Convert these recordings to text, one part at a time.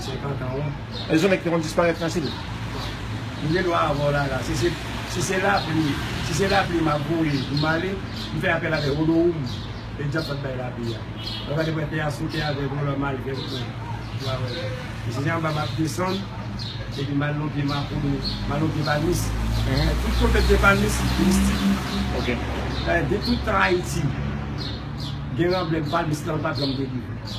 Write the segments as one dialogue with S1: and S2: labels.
S1: 50 ans wi. Gen yon nèg ki te konn
S2: disparèt nan sid. M gen dwa
S1: avè w la la. Si se lapli, si se lapli m ap voye pou m ale, m fè apèl avè Odoum e Djab pat bay lapli a. Lè w gade pou wè tè a sote avè vòlò m al vèt mwen. Ou a wè la. E si se anba m ap desann epi m al nan pye Makout ou, m al nan pye Palmis. Epi tout kote pye Palmis mistik. Ok.
S2: Dayè de
S1: tout tan Ayiti gen ranblèm Palmis lan l pa janm degoumen.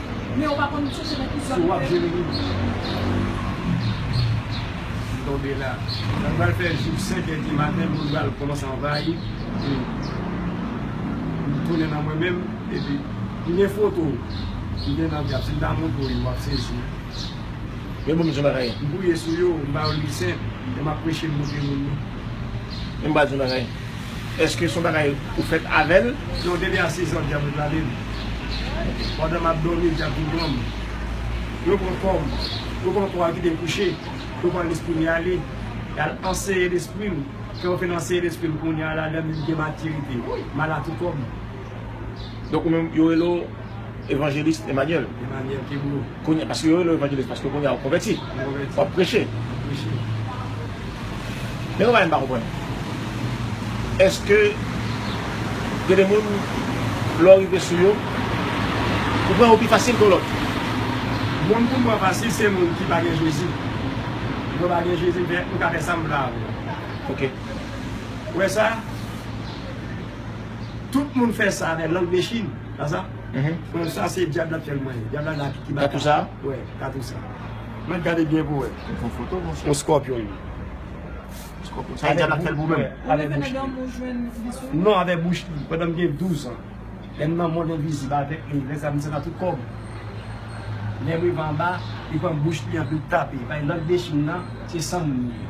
S1: Men ou pa konn m chèche nan ki zòn ou te vini. M tonbe la. Mwen pral fè jou 5 è di maten moun pral kòmanse anvayi e m tounen nan mwen menm epi m gen foto w ki gen nan djab si m ta montre w yo wap sezi. Yo
S2: ban m di w bagay. M priye sou yo, m ba
S1: yo lwisent e m ap preche m montre moun yo. Men
S2: m pral di w bagay. Eske son bagay ou fèt avèl? Non depi a 6 ans
S1: dyab ret lalem pandan map domi dyab vin pranm yo pran kòm yo pran kò a kitem kouche yo pran lesprim ya ale yal anseye lesprim fèw finn anseye lesprim kounya lalem gen matirite mal a tou kòm
S2: Donk ou menm yo rele w Evangeliste Emmanuel? Emmanuel Kebreau.
S1: Kounye, paske yo rele w Evangeliste
S2: paske kounye a ou konvèti? Mwen konvèti. Wap preche? Mwen preche. Men yon bagay m pa konprann. Eske gen de moun lè w rive sou yo, ou pran yo pi fasil ke yon lòt? Moun
S1: pou m pran fasil se moun ki pa gen Jezi. Mwen pa gen Jezi men m ka fè sa m vle avè w. Ok.
S2: Ou
S1: wè sa? Tout moun fè sa avè lang de Chine. Sa sa? Bon, sa se dyab la k fè l manyen. Dyab la la ki ba. Katou sa? Wè,
S2: katou sa.
S1: Mèt gade byen pou wè. Ou pran foto, monchè? Yon
S2: scorpion li. Scorpion. Sa e dyab la k fè l pou menm? Ou leve nan dòmi ou
S1: jwenn visyon li? Non, avè bouch li. Pandan m gen 12 an. Lè m nan mond envizib avèk li, lè sa m sèl nan tout kò m. Lè m rive anba, li pran bouch li anpi l tape. Bay lang de Chine nan, se san moun li ye.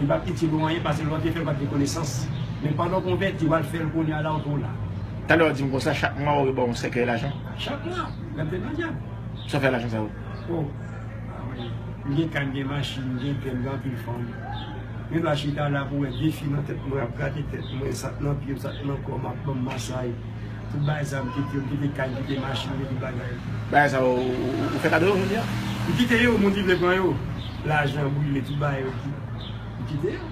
S1: Li pap itil ou anyen pase lè w te fè l pat gen konesans men pandan w konvèti wal fè l kounya la ou twò la. Talè w di m konsa
S2: chak mwa ou re ba w yon sèkèy lajan? Chak mwa?
S1: Gad tèt lan djab. Sa w fè lajan
S2: sa yo? Oh ah
S1: oui m gen kay m gen machin m gen byen m gen anpil fanm Mwen dwa chita la pou wè de fi nan tèt mwen ap grate tèt mwen sa k nan pye m sa k nan kò m ap ban m masay. Pou bay zam kit yo kite kay kite machin yo tout bagay. Bagay sa yo
S2: ou fè kado yo jodi a? Ou kite yo moun
S1: ki vle pran yo lajan brile tout bagay yo kit ou kite yo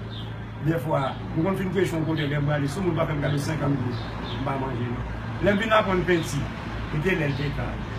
S1: dèfwa mwen konn fin prechon kote lèm prale sou moun pa fèm kado 50 goud mpa manje non lèm fin aprann penti li te lèl te kal.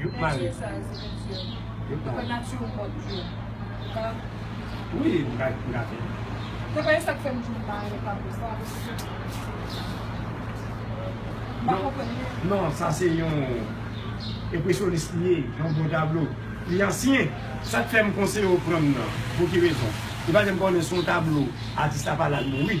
S1: Youk mare. Penti sa yo se penti yo. Youk mare. Fè nati yo mòd tou. Ou ka. Wi m ka m ka fè.
S3: Te konyen sa k fè m di m mare
S1: tablo sa. M pa konprann li. Non sa se yon enpresyonis li ye. Yon bon tablo. Li ansyen. Sa k fè m konseye w pran m nan. Pou ki rezon. Li pa janm konnen son tablo atis la pa la l mouri.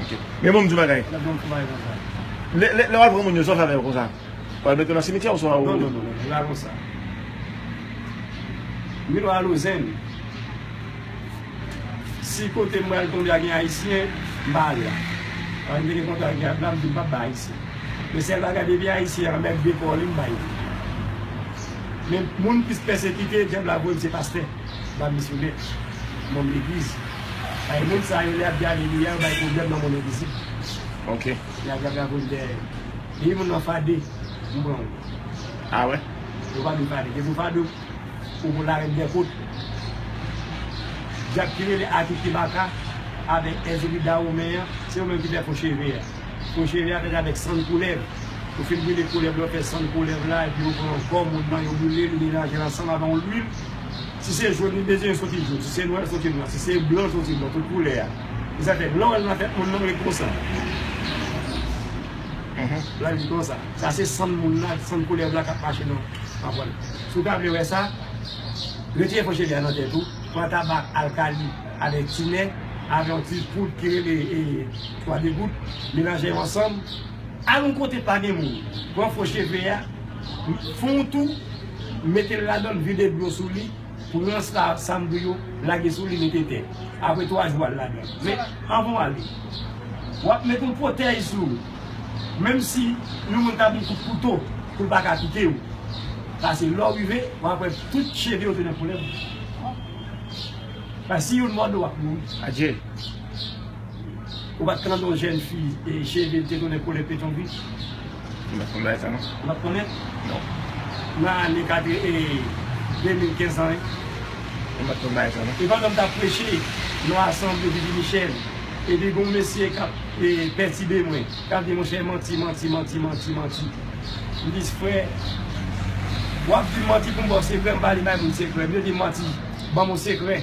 S1: Ok. Men
S2: bon m di w yon bagay. Lè bon travay konsa. Lè lè wap pran moun yo sa w fè avè yo konsa? Wal mete yo nan simityè ou swa ou. Non non non non. Li pa konsa.
S1: Mwen nan Alozèn. Si kote m pral tonbe a gen ayisyen, m pa al la. Paske m te gen kontra ak djab la, m di m pap bay ayisyen. Men sèl bagay depi ayisyen an mèt dekò li m bay li. Men moun m plis pèsekite djab la voye m se pastè. se pa misyonè, manm legliz. Paske moun sa yo lè y ap di alelouya, yo bay pwoblèm nan monn envizib. Ok.
S2: Y ap gade avyon
S1: ki dèyè yo. Depi moun nan fade, m pran l.
S2: Ah wè? Yo pa vin fade.
S1: Depi w fade, ou pou larèt dè kot. Dyab ki rele Akiki Baka avèk Èzili Dawomen an, se yo menm ki fè fo cheve a. Ou jere atèt avèk sann koulèv. Ou fin brile koulèv lan, fè sann koulèv la epi yo pran kò moun nan yo brile l, yo melaje l ansanm avè yon lwil. Si se jòn li bezwen, l soti jòn. Si se nwa, l soti nwa. Si se blan, l soti blan. Tout koulè a. E sa fè, lè w al nan tèt moun nan, w ret konsa. L al di konsa. Sa se sann moun nan, sann koulèv la k ap mache nan anfò l. Si w ta vle wè sa, retire fo cheve a nan tèt ou, pran tabak alkali avèk tinè, avè yon ti poud ki rele. 3 degout melanje yo ansanm al yon kote pa gen moun pran fo cheve a fon yon tou metel ladanl vide dlo sou li pran sa sam di yo lage sou li mete tè apre 3 jou al ladanl men anvan w ale wap met yon pwotèj sou ou menm si yon moun tap yon kout kouto poul pa ka pike w pase lè w rive wap wè tout cheve yo te nan koulèv paske si youn mòde w wap mouri. Adjee. Ou pat k nan do jèn fi e cheve l te tounen koulè petyon gri? M pat
S2: konn bagay sa non. Ou pat konnen? Non. Nan ane katre
S1: e 2015 lan wi. M pat
S2: konn bagay sa non. E pandan m t ap preche
S1: nan asanble Bibi Michel, epi gon mesye k ap pètibe mwen, k ap di monchè manti, manti, manti, manti, manti. M di frè, w ap di m manti pou m ba w sekrè, m pa li bay moun sekrè. M yo di m manti, ban m yon sekrè.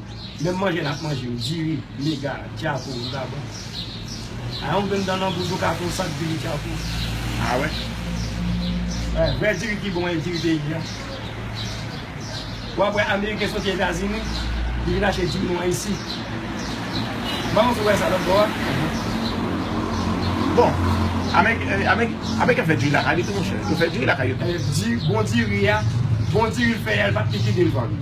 S1: Menm manje nap manje yo diri, mega, djakou, vagabon. A yon grenn dan nan bouch ou ka fè yon sak diri djakou. A wè.
S2: Wè, vrè diri ki
S1: bon e diri peyi a. Wap wè ameriken soti etazini, li vin achte diri nou an isi. Manmanw sou wè sa lòt bò a?
S2: Bon, ameriken fè diri lakay li tou monchè. Yo fè diri lakay yo tou. Bon diri
S1: a, bon diri l fè a, li pap likidel vann.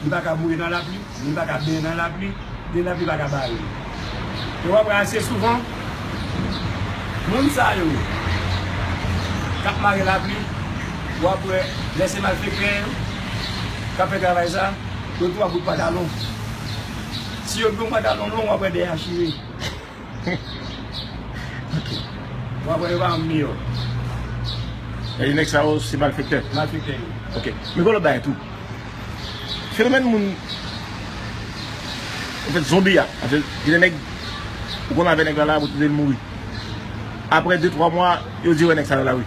S1: Li pa ka boure nan lapli, li pa ka benyen nan lapli, ni lapli pa ka bare li. E w ap wè ase souvan, moun sa yo k ap mare lapli, w ap wè lè se malfektè yo k ap fè travay sa, yo tou ap bout pantalon. Si yo gen yon pantalon long, w ap wè dèyè a chire. Mwen kwè yo pa anm miyò.
S2: Sa di nèg sa yo se malfektè? Malfektè yo. Ok.
S1: Men gen lòt bagay
S2: tou. Fenomèn moun anfèt zonbi a. Paske gen de nèg ou konn avè nèg la la pou toude l mouri. Aprè de twa mwa yo di yo wè nèg sa nan lari.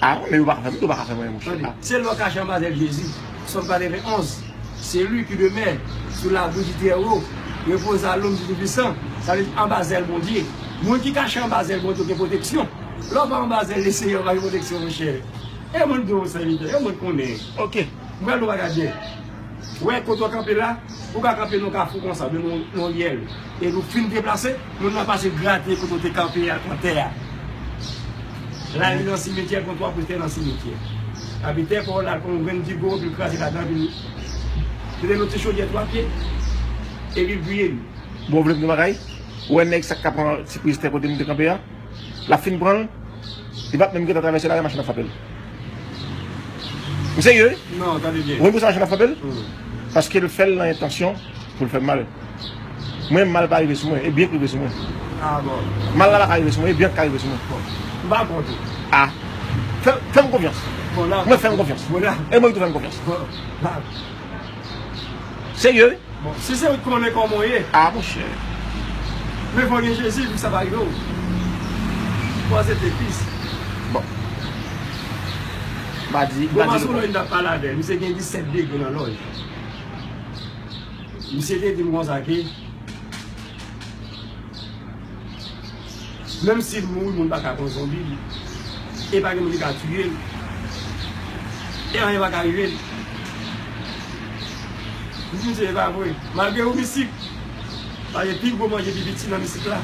S2: Ah wi
S1: men yo paka fè moun yo
S2: paka fè mwen mouche la. Se lè w kache anba zèl
S1: Jezi. Sòm 91 Se li ki demè sou labri di Trèwo, repoze a lonm di Toupisan, sa vle di anba zèl Bondye. Moun ki kache anba zèl Bondye gen pwoteksyon. Lè w pa anba zèl Leseyè ou pa gen pwoteksyon monchè. E moun di w sèvitè, e moun konnen. Ok. M pral
S2: nou bagay byen.
S1: Wè kote w kanpe la, ou ka kanpe nan kafou konsa oubyen nan yon ryèl epi ou fin deplase, moun nan pase grate kote w te kanpe a nan tè a. La li nan simetyè kon twa kouch tè nan simetyè. Epi tè pa w la kon yon grenn digo epi l kraze ladan epi l mete nan yon ti chodyè twa pye epi l griye li. Bon, w vle m di yon
S2: bagay? Ou wè nèg sa k ka pran ti priz tè kote m te kanpe a? Lap fin pranl Li pap menm gentan travèse lari machin ap frapel Ou serye wi Ou konn pousa
S1: machin ap frapel
S2: Paskel fèl nan entansyon poul fèm mal Mwen mal pa rive sou mwen e byen k rive sou mwen
S1: Mal la paka rive sou mwen e byen
S2: k ka rive sou mwen Fèm konfyans Mwen fèm
S1: konfyans
S2: e mwen tou fèm konfyans. Serye wi. Bon si se ou t konnen
S1: koman w ye. Ah monchè.
S2: Men
S1: fò gen jezi pou sa pa rive w. Kwaze de pis. Bon.
S2: Mpa di mpa di nou. Mta pale
S1: avèl misye gen 17 degre nan lòj. Misye te dim konsa ke. Menm sil mouri moun paka pran zonbi li e pa gen moun ki ka tiyel e anyen paka rivel li di misye epa vre malgre ou misik paske pi gwo manje pi piti nan misik la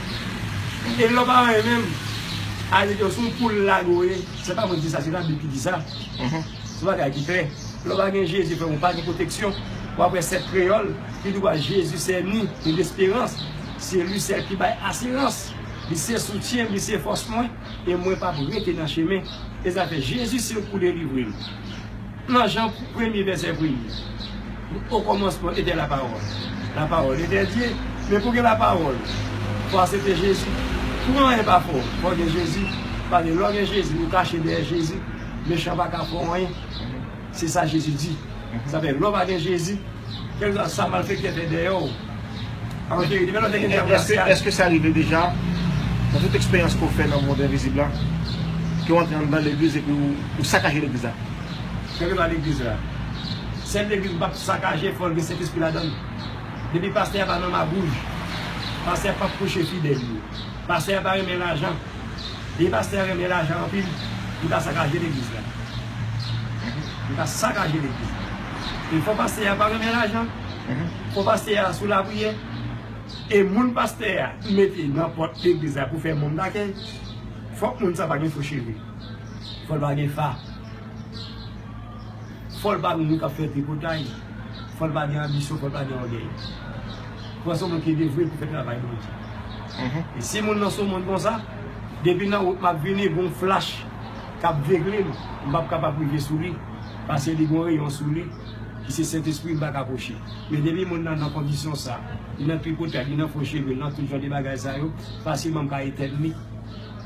S1: e lèw pa anyen menm al di ke son poul lag ou ye se pa mwen ki di sa se labib ki di sa son bagay ki klè lèw pa gen jezi frèm ou pa gen pwoteksyon wap wè sèt kreyòl ki di wè jezi sè nou nou gen esperans. Se li sèl ki bay asirans. Li se soutyen m, li se fòs mwen, e mwen p ap rete nan chemen. E zafè Jezi se pou delivre m. Nan Jan premye vèsè premye, okòmansman etè lapawòl. Lapawòl etè Dye, men pou gen lapawòl, fò asepte Jezi. Pou anyen pa fè w, fò gen Jezi. Paske lè w gen Jezi, ou kache dèyè Jezi, mechan pa ka fè w anyen. Se sa Jezi di. Sa fè, lè w pa gen Jezi, kèlkeswa sa malfèktè fè dèyè w, a pa cheri li. Menm lè w te gen dyab
S2: la saj. Èske sa rive deja, nan tout eksperyans ke w fè nan mond envizib la, ke w antre anndan legliz epi ou sakaje legliz la? Kèlkeswa
S1: legliz la. Sèl legliz ou pa p sakaje, fò l gen Sentespri ladan l. Depi pastè a pa nan magouj, pastè a pa p preche fidèl yo. Pastè a pa renmen lajan. Vye pastè a renmen lajan anpil. Li ka sakaje legliz la. Li ka sakaje legliz la. E fo pastè a pa renmen lajan. Fo pastè a sou lapriyè. E moun pastè a mete nan pòt legliz la pou fè moun dakèy. Fòk moun sa pa gen fo cheve. Fòl pa gen fa. Fò l pa moun kap fè tripotay, fò l pa gen anbisyon, fò l pa gen ògèy. Fò l se yon moun ki devwe pou fè travay Bondye. E si moun nan se yon moun konsa, depi nan wout map vini gon flach kap vegle m, m pap kapab rive sou li pase li gon reyon sou li ki se Sentespri m pa ka pwoche. Men depi moun nan nan kondisyon sa, li nan tripotay, li nan fo cheve, li nan tout jan de bagay sa yo, fasilman m ka etèn li.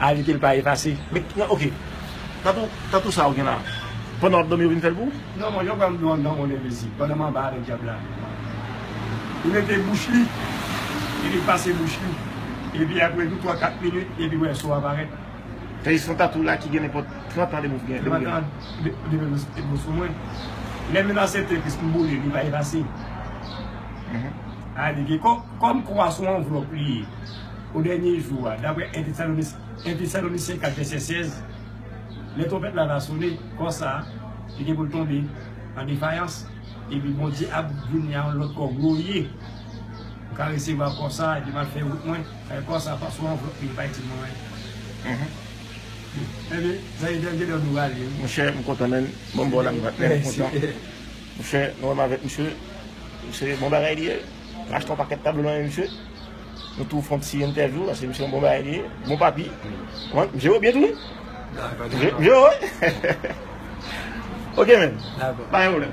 S1: Ajoute l pa efase. Men ok
S2: Tatou Tatou sa ou gen la Pandan wap domi yo vin fèl pou ou? Non mwen yo pranl dlo
S1: anndan mwen gen plezi pandan m anba avèk dyab la li mete bouch li epi l pase bouch li epi aprè tou 3 4 minit epi wè so a parèt. Fè esfò
S2: Tatou la ki gen nenpòt 30 an depi w gen 30 an
S1: depi dlo sou mwen lè menaj se tepis m boule li pa efase Alike kòm kò a sou anvlòp li ye. O dènye jou a, daprè 1 Tesalonisyen 4 vèsè 16, lè twonpèt la va sone, kò sa a, li gen pou l tonbe an defayans, epi Bondye ap vini a yon lòt kò gloriye. M ka resevwa kò sa a, epi m al fè wout mwen avèk kò sa a, sou anvlòp li, li pa itil mwen anyen. Enben, sa se dènye lè nou va ale wi. Monchè, m kontan menn.
S2: Bon, m ba w la, m kontan. Monchè, nou wè m avèk misye. Se bon bagay li ye. M achte yon pakèt tablo nan men misye. Nou tou fon ti entèvyou paske misye yon bon bagay li ye, bon papi. Wan, misye yo byen tou wi. Dakò, dakò. Misye yo wi. Ok men. Dakò. Pa gen pwoblèm.